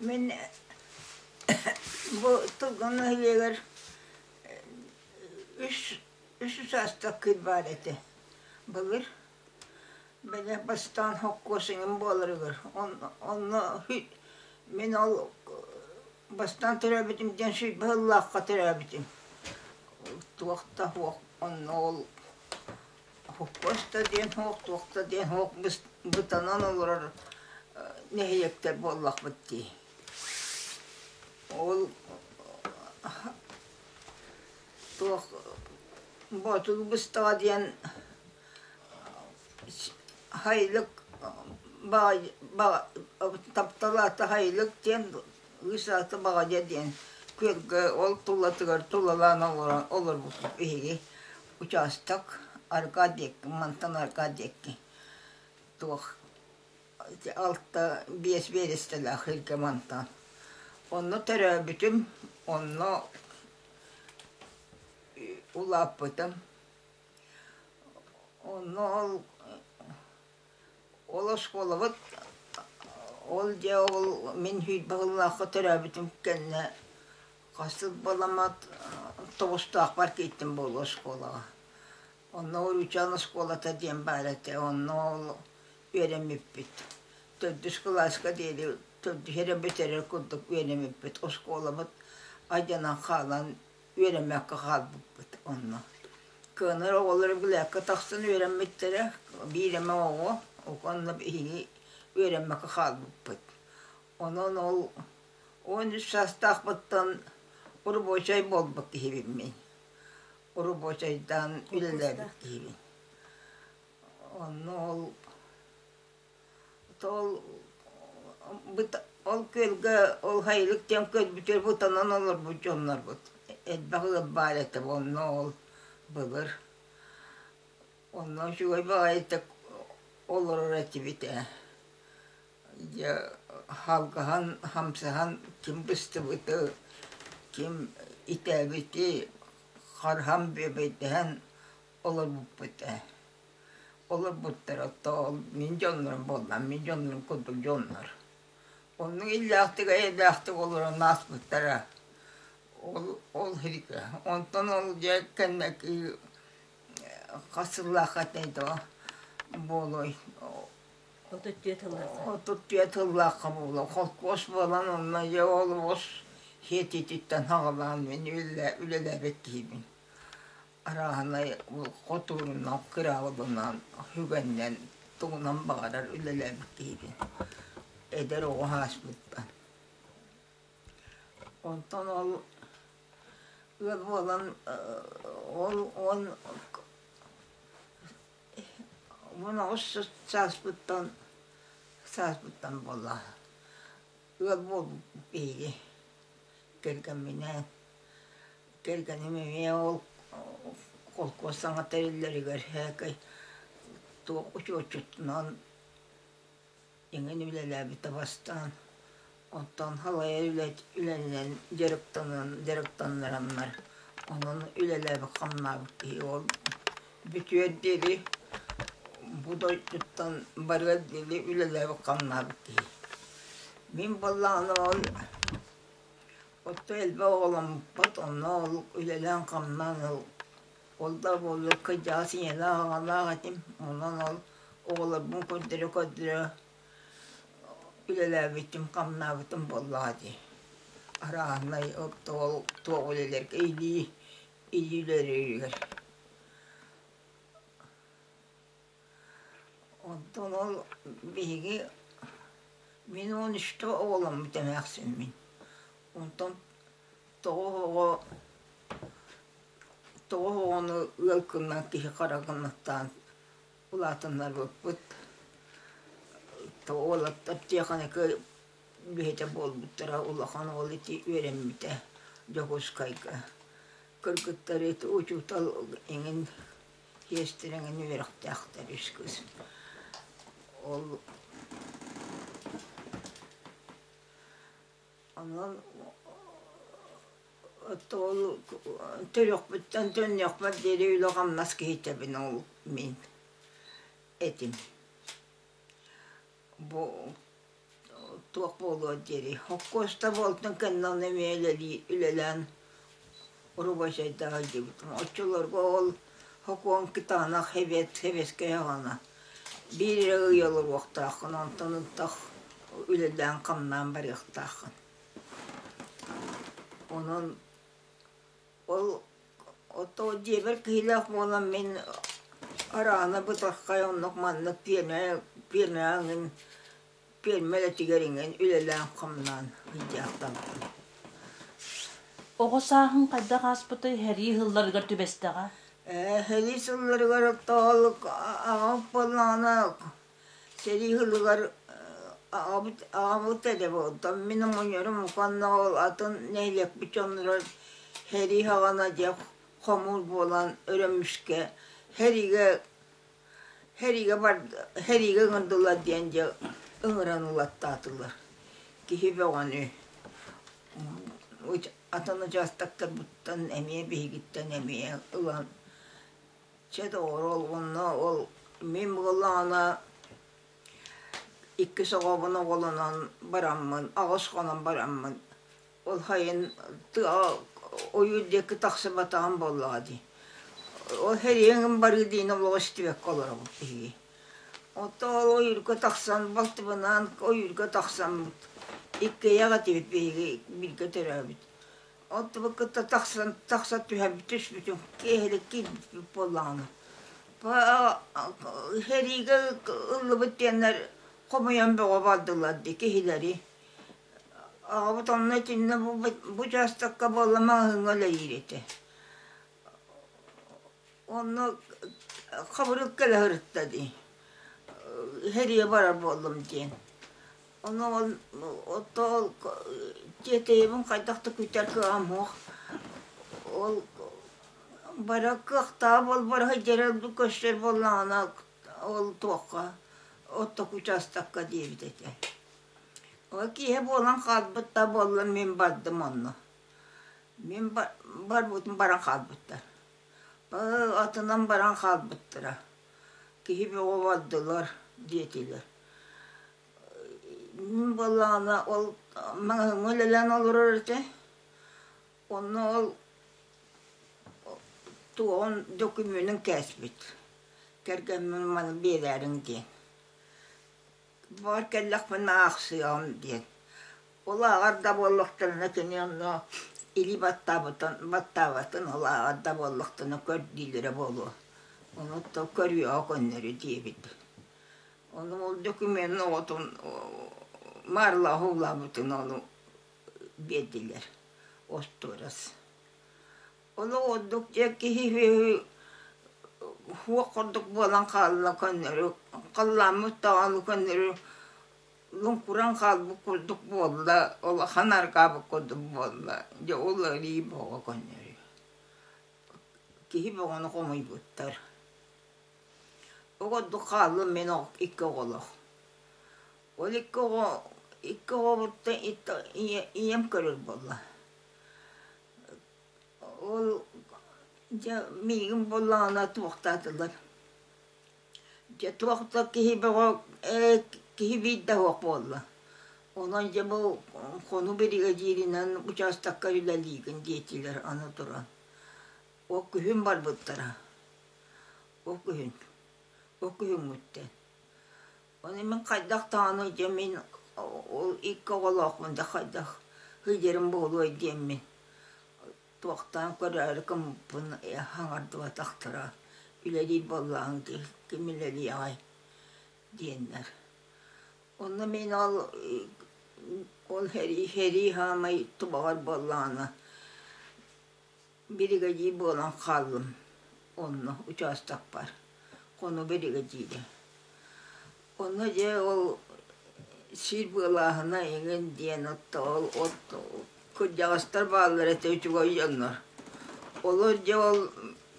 Мин бу Тылгын нэһилиэгэр үс үс саастах кыыс баар этэ. Былыр бэдэ бастаан хоккуосуҥум буоларыгар онно мин ол бастаан төрөөбүтүм диэн сүүрбэ сыллаахха төрөөбүтүм. Туох да суох онно ол Хохкоочто диэн оһох, туохта диэн оһох бытанан олорор нэһииэктэр буоллахпыт дии. Ол туох Боотул быстаҕа диэн Һайлык тапталаата Һайлык диэн Кыыс аата Баҕадьа диэн күөлгэ ол туллатыгар тулалаан олорон олорбуппут биһиги учаастак Аркадьекка мантан Аркадьекки туох алта биэс биэрэстэлээх иһиргэ мантан онно төрөөбүтүм онно улааппытым онно ол Ол оскуолабыт ол дьэ ол мин сүүрбэ сыллаахха төрөөбүтүм кэннэ хас сыл баламат Тобустаахпар киирдим буолуо оскуолаҕа. Онно Уруучаан оскуолата диэн баар этэ, онно ол үөрэммиппит. Төрдүс кылааска диэри төрдүс эрэ бүтэрэр курдук үөрэммиппит. Оскуолабыт алдьанан хаалан үөрэммэккэ хаалбыппыт онно. Кыанар оҕолорум лээккэ тахсан үөрэммиттэрэ, биир эмэ оҕо, онно биһиги үөрэммэккэ хаалбыппыт. Онон ол он үс саастаахпыттан рабочай буолбут киһибин мин. Рабочайдаан үлэлээбит киһибин. Онно ол ол ол күөлгэ ол хайылык диэн күөл бүтүөр бутанан олорбут дьоннорбут элбэх ыал баар этэ онно ол былыр онно үчүгэй баҕайыта олорор этибит ээ дьэ халгаһан хамсаһан ким быстыбыты ким итээбити харыһан бүөбэйдэһэн олорбуппут ээ. Олорбуттара тоол мин дьоннорум буоллар мин дьоннорум курдук дьоннор. Оннук иллээхтик эйэлээхтик олорон ааспыттара. Ол ол һирикэ. Онтон ол дьэ кэннэки хас сыллаах этэй доо буолуой отут түөрт сыллаах отут түөрт сыллаахха буолуо холкуос буолан онно дьэ олобос хиэтититтэн хаҕалаан мин үлэлээбит киһибин. арааһынай хотуурунан кыраабылынан сүгэннэн тугунан баҕарар үлэлэммит киһибин эдэр оҕо ааспыппын онтон ол ыал буолан ол уон уон аҕыс сааспыттан сааспыттан буолла ыал буолбуппут биһиги кэргэмминээн Кэргэним эмиэ ол холкуос саҥа тэриллэригэр һэкэй туох учуотчутунан эҥин үлэлээбит табастаан оттон халайа үлэнэн дьарыктанан дьарыктаннараннар онон үлэлээбит-хамнаабыт киһи ол бүтүөр диэри бу дойдуттан барыар диэри үлэлээбит-хамнаабыт киһи мин балаҕаным он Отто элбэх оҕоломмуппут, онно ол үлэлээн-хамнаан ол ол да буолбакка дьаҕас ийэлээх аҕалаах этим. Онон ол оҕолорбун көрдөрө-көрдөрө үлэлээбитим, хамнаабытым буоллаҕа дии. Арааһынай отто ол туох үлэлэргэ илии, илии үлэлииригэр. Оттон ол биһиги мин уон үстэ оҕоломмут эмээхсин мин. Онтон тоҕус оҕо тоҕус оҕону ыал гыннан киһи хара гыннаттаан улаатыннарбыппыт. Уолаттар техникэ үлэһитэ буолбуттара улахан уол ити үөрэммитэ Дьокуускайга. Кыргыттар ити учуутал эҥин иэстилэҥин үөрэхтээхтэр үс кыыс ол онон отто ол төрүөхпүттэн төннүөхпэр диэри үлэ-хамнас киһитэбин ол мин этим бу туох буолуо диэри хоккуоста буолтун кэннэ онно эмиэ үлэлии үлэлээн рубачайдаах илдьибитим оччолорго ол хокуон кытаанах эбиэт сэбиэскэй аҕана биир эрэ ый олоруохтааххын онтон ынтах үлэлээн-хамнаан барыахтааххын онон Ол ото дьиэбэр киһилээх буолан мин араана бытархай оннук маннык пиэрмэ пиэрмэҕэ эҥин пиэрмэ үлэтигэр иҥин үлэлээн-хамнаан ыйдьаахтанабын. Оҕо сааһыҥ хайдах ааспытый? Һэрии сылларыгар түбэстэҕэ? Ээ, һэрии сылларыгар оттоолук аҕам буоллаҕына Сэрии ылыгар аҕабыт эрэ буолтан мин оҕонньорум уонна ол атын нэһилиэкпит дьонноро сэрии саҕана дьэ хомуур буолан өрөмүскэ сэриигэ сэриигэ сэриигэ ыҥырдылар диэн дьэ ыҥыран ылаттаатылар киһи бөҕөнү атын учаастактарбыттан эмиэ биһигиттэн эмиэ ылан Чэ доҕоро, онно ол мин буоллаҕына иккис оҕобун оҕолонон бараммын, аҕыс хонон бараммын, ол сайын ойуур диэки тахсыбатаҕым буоллаҕа дии. Ол сэриэҥҥин барыы диин олоҕу истибэккэ олоробун киһи. Оттон ойуурга тахсан балтыбынаан ойуурга тахсан иккиэйэх этибит биһиги бииргэ төрөөбүт. Оттубут кытта тахсан тахса түһэрбит түспүтүн киэһэлик киирбит буоллаҕына сэриигэ ыллыбыт диэннэр хомуйан бөҕө бардылар дии киһилэри аҕабыт онно итиннэ бу учаастакка буолла маҕаһыыҥҥа үлэлиир этэ Онно хабырык кэлэһэртэ дии, иһэрийэ барар буоллум диэн. Ону ол отто ол тиэтэйэбин хайдах да күүтэр кыаҕым суох. Ол бары кыахтаах буолбараһа дьэрэл көрсөр буоллаҕына ол туохха отто учаастакка диэбит этэ. Ол киэһэ буолан хаалбыт да буоллар мин бардым онно. Мин барбытым баран хаалбыттар. Атынан баран хаалбыттара. Киһи бөҕөбөрдүлэр диэтилэр. Мин буоллаҕына ол маҥаһыымҥа үлэлээн олорор этэ. Онно ол туоһун докумуонун кээспит. Кэргэммин маны биэрээриҥ диэн. Баар кэллэхпинэ аахсыаҕым диэн. Улааҕар да буоллахтарына кини онно или баттаабытын баттаабатын улааҕар да буоллахтарына көрдүүлэрэ буолуо. Ону то көрүөҕэ көннөрү диэбит. Ону ол документ оҕотун маарылааҕа улаабытын ону биэрдилэр остуорас. Олох ордук дьэ киһи суох курдук буолан хаалла көннөрү, халлааммыт даҕаны көннөрү луҥкуран хаалбыт курдук буолла, улахан аргаабыт курдук буолла. Дьэ ол арыы бөҕө көннөрү. Киһи бөҕөнү хомуйбуттар. Ол курдук хааллым мин икки оҕолох. Ол икки оҕо икки оҕобуттан ийэм көрөр буолла. Ол дьэ миигин буоллаҕына туохтаатылар. Дьэ туох да киһи бөҕө ээ киһи биирдэ суох буолла. Онон дьэ бу хону биригэдьииринэн учаастакка үлэлиигин диэтилэр аны туран. Ол күһүн барбыттара. Ол күһүн. Ол күһүҥҥүттэн. Аны мин хайдах даҕаны дьэ мин ол икки оҕолоохмун да хайдах сылдьарым буолуой диэммин туохтан көрөөрү кымпын э, хаҥардыбатахтара үлэлиир буоллаҕыҥ дии ким үлэлиэҕэй диэннэр онно мин ол ол сэрии сэрии саамай тубаҕар буоллаҕына Биригэдьиир буолан хааллым. Онно учаастакпар. Хоно биригэдьиирэ. Онно дьэ ол сиир быалааһына иҥин диэн отто ол от кырдьаҕастар бааллар этэ үчүгэй дьоннор. Олор дьэ ол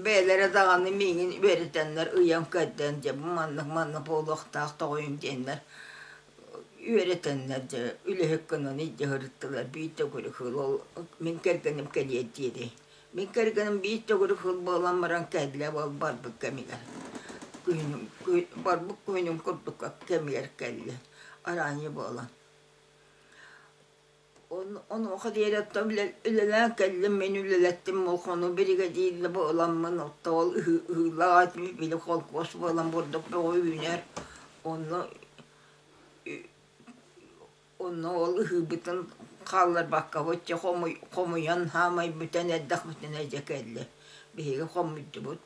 бэйэлэрэ даҕаны миигин үөрэтэннэр ыйан-кэрдэн дьэ бу маннык-маннык буолуохтаах тоҕойум диэннэр үөрэтэннэр дьэ үлэһит гынан иддьаһырыттылар биир төгүрүк хыл ол мин кэргэним кэлиэр диэри мин кэргэним биир төгүрүк хыл буолан баран кэллэ ол барбыт кэмигэр күһүнүн барбыт күһүнүн курдук кэмигэр кэллэ арааньы буолан Онуоха диэри отто үлэлээн кэллим, мин үлэлэттим болхону биригэдиир да бу ыламмын, отто ол ыыллаах ат били холкуос буолан бурдук бөҕө үүнэр. Онно онно ол ыһыыбытын хаалларбакка оччо хомуйан хаамай бүтэн эрдэх бүтэн эрдэ кэллэ. Биһиги хомуйдубут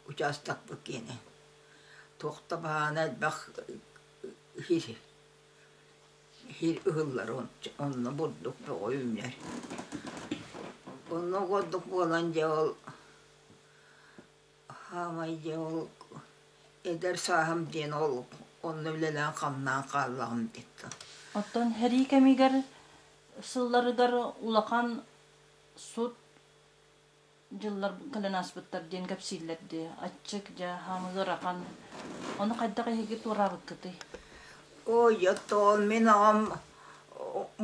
учаастакпыт киэнэ. Туох да баһаана элбэх иһир Сиир ыһыллара онно бурдук бөҕө-үүнэр. Онно ордук буолан дьэ ол хаамай дьэ ол эдэр сааһым диэн ол онно үлэлээн хамнаан хааллаҕым диэхтэ. Оттон сэрии кэмигэр сылларыгар улахан сут дьыллар кэлэн ааспыттар диэн кэпсииллэр дии аччык дьэ хаама ыарахан ону хайдах эһиги туораабыккытый ойотоон мин аҕам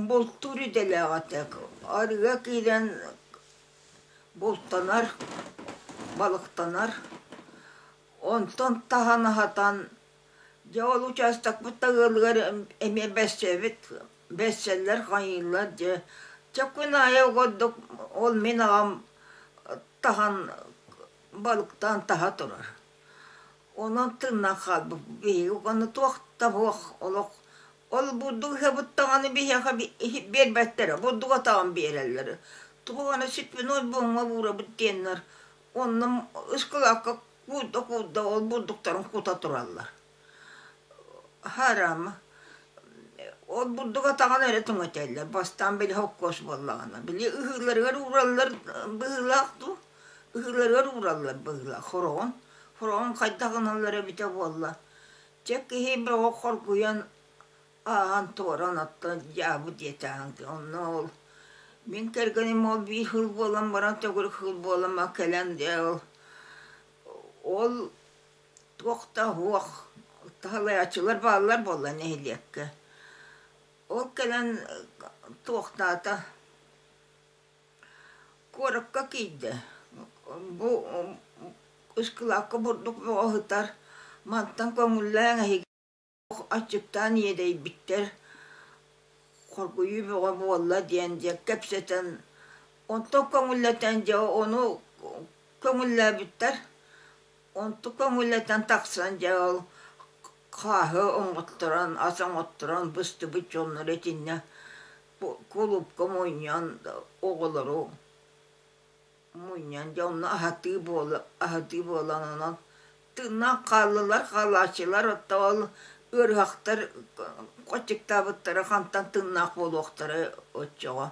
бултуур идэлээҕитик арыга киирэн бултанар балыктанар онтон таһан аһатан Дьэ ол учаастакпыт да ыалыгар эмиэ билсэбит билсэллэр хоһуйуллар дьэ чэ күн аайы ордук ол мин аҕам таһан балыктаан таһа турар онон тыыннан хаалбыт биһиги аны туох да суох олох ол бурдук ыһыабыт даҕаны биһиэхэ биэрбэттэрэ бурдук атаҕын биэрэллэр туох аны святной буоҥҥа уурабыт диэннэр Онно ыскылаакка куурда-куурда ол бурдуктарын кута тураллар. Харама, ол бурдук атаҕын эрэ түҥэтэллэр, бастаан били хоккоос буоллаҕына. Били ыһыыларыгар уураллар быһыылаах дуу, ыһыыларыгар уураллар быһыылаах хороҕон. Хороҕон хайдах ыналлар эбитэ буолла, чэ киһи бөҕө хоргуйан аан-туоран оттон дьаабы диэти аанга онно ол мин кэргэним ол биир хыл буолан баран төгүрүк хыл буолан бара кэлэн дьэ ол ол туох да уох таһалайааччылар бааллар буолла нэһилиэккэ ол кэлэн туохтаата куоракка киирдэ бу ыскылаакка бурдук бөҕө сытар мантан көҥүллээҥ эһиги Аччыктаан иэдэйбиттэр, хоргуйуу бөҕө буолла диэн дьэ кэпсэтэн, онтон көҥүллэтэн дьэ ону көҥүллээбиттэр. Онту көҥүллэтэн тахсан дьэ ол хааһы оҥотторон, ас оҥотторон быстыбыт дьоннору итиннэ кулуупка мунньан оҕолору Мунньан дьэ онно аһатыы буола аһатыы буолан онон тыыннаах хааллылар хаалааччылар оттоол ыарыһахтар кочектаабыттара хантан тыыннаах буолуохтара оччоҕо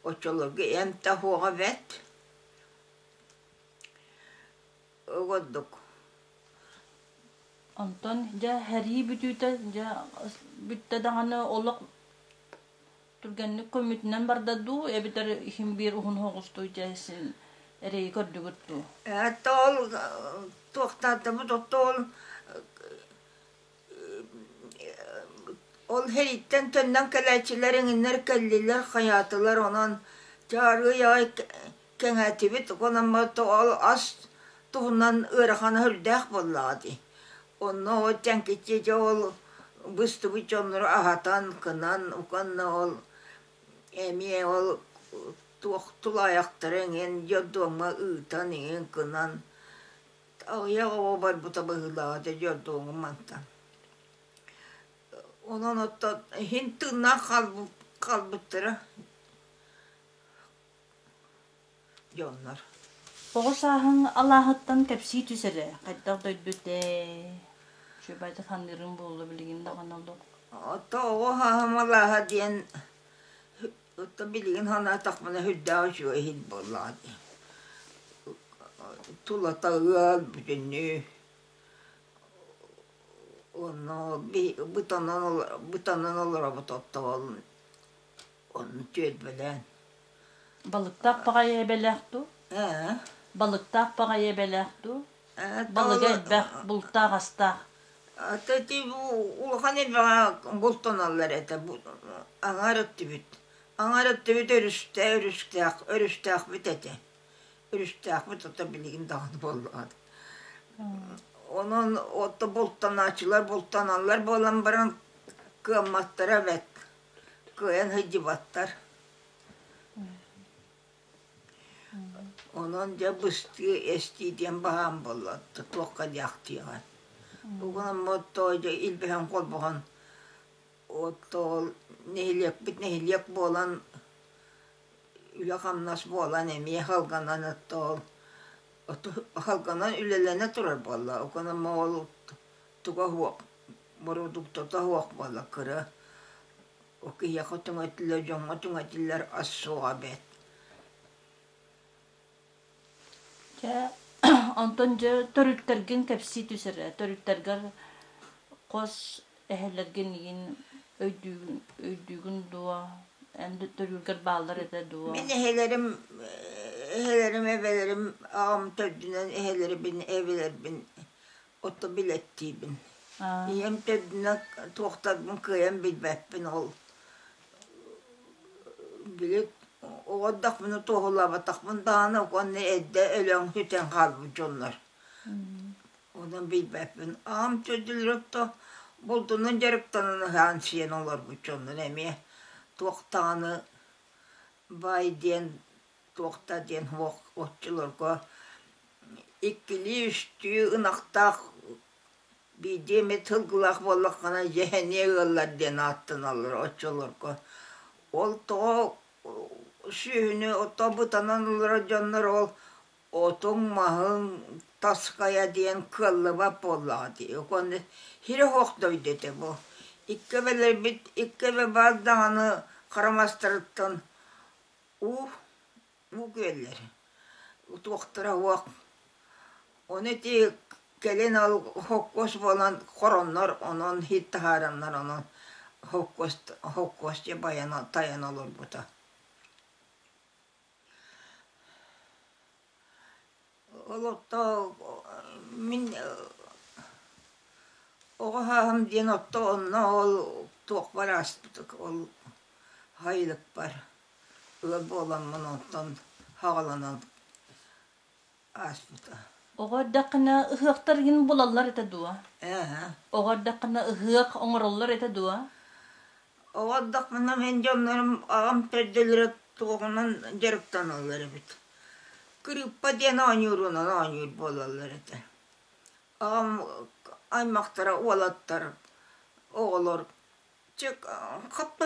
оччолорго эмтэх уоҕа бэрт угоддук онтон дьэ сэрии бүтүүтэ дьэ бүттэ даҕаны олох Түргэнник көммүтүнэн барда дуу, эбэтэр иһин биир уһун соҕустук дьэ син эрэйи көрдүгүт дуу? Ээт ол туохтаатамыт оттоол ол хериттен төннөн кэлээччилэр иҥиннэр кэллилэр хайаатылар онон дьаарыай кэҥээтибит уонан ол ас туһунан ыарахан өһүрдээх буоллаҕа дии онно ол дьэҥкиччи дьэ ол быстыбыт дьоннору аһатан кынан уонна ол эмиэ ол туох тулаайахтары иҥэн дьордуоҥҥа ыытан иҥэн кынан аҕыйах оҕо барбыта быһыылааҕа дьэ дьордуоҥҥа мантан онон оттон иһин тыыннаах хаалбыттара Дьоннор. Оҕо сааһыҥ алааһыттан кэпсии түс эрэ. Хайдах дойдут ээ? Чүөбайда ханныырын буолла билигин даҕаны олох. Отто оҕо хааһым алааһа диэн отто билигин ханаатахпына үрдээх үчүгэй иһин буоллаҕа дии. Тулата ыал бүтүннүү онно бытанан олоро бытанан олоробут отто ол Онну түөлбэлээн. Балыктаах баҕайы эбэлээх дуу? Ээ. Балыктаах баҕайы эбэлээх дуу? Балыга элбэх, бултаах астаах. Ата ити улахан эбэҕэ бултаналлар этэ. Аҥаар өттүбүт. Аҥаар өттүбүт өрүстээх, өрүстээх, өрүстээхбит этэ. Өрүстээхбит ото билигин даҕаны буоллаҕыт. Онон отто бултанааччылар бултаналлар буолан баран кыамматтара бэрт. кыайан сылдьыбаттар онон дьэ быстыы эстии диэн баҕаам буоллар туохха диэхтиэҕин угунаммыт тоойдо илбэһэн холбоһон оттоол нэһилиэкпит нэһилиэк буолан үлэ-хамнас буолан эмиэ халганан оттоол халганан үлэлэнэ турар буолла угунамма ол туга суох бородууктата суох буолла кыра ол киһиэхэ туҥатиллэр дьоҥҥо туҥатиллэр ас суоҕа бэрт Дьэ онтон дьэ төрүттэргин кэпсии түсэр төрүттэргэр хос эһэлэргин игин өйдүүгүн өйдүүгүн дуо эн төрүүлгэр бааллар этэ дуо мин эһэлэрим эһэлэрим эбэлэрим аҕам төрдүнэн эһэлэрибин эбэлэрбин оту билэттиибин. Ийэм төрдүнэн туохтарбын кыайан билбэппин ол били оҕордохпуна туоһулаабатахпын даҕаны уонна эрдэ өлөөн сүтэн хаалбыт дьоннор. Онон билбэппин. Аҕам төрдүлөртө булдунан дьарыктанан ыһаан сиэн олорбут дьоннор эмиэ туох даҕаны баай диэн туохта диэн уох оччолорго иккилии-үстүү ынахтаах биирдии эмит сылгылаах буоллаххына дьэһэниэ ыаллар диэн ааттаналлар оччолорго ол тоҕо сүөһүнү ото бутанан олорор дьоннор ол отуҥ маһыҥ тасхайа диэн кыаллыбат буоллаҕа дии уонна сирэ суох дойду этэ бу икки эбэлэрбит икки эбэ баар даҕаны харамастарыттан уу уу күөллэр туохтара уох ону ити кэлин ол хоккуос буолан хороннор онон иһит таһаараннар онон хоккуос хоккуос дьэ байан тайан олорбута олохтоох мин оҕо сааһым диэн отто онно ол туох бары ааспыт ол хайылыкпар ыал буоламмын онтон хаҕыланан ааспыта оҕо эрдэххинэ ыһыахтаргын булаллар этэ дуо? Оҕо эрдэххинэ ыһыах оҥороллор этэ дуо? Оҕо эрдэхпинэ мин дьоннорум аҕам төрдөлөрө туоҕунан дьарыктаналлар эбит. Кырыыппа диэн оонньуруунан оонньуур буолаллар этэ. Аҕам аймахтара уолаттар, оҕолор чэ хаппа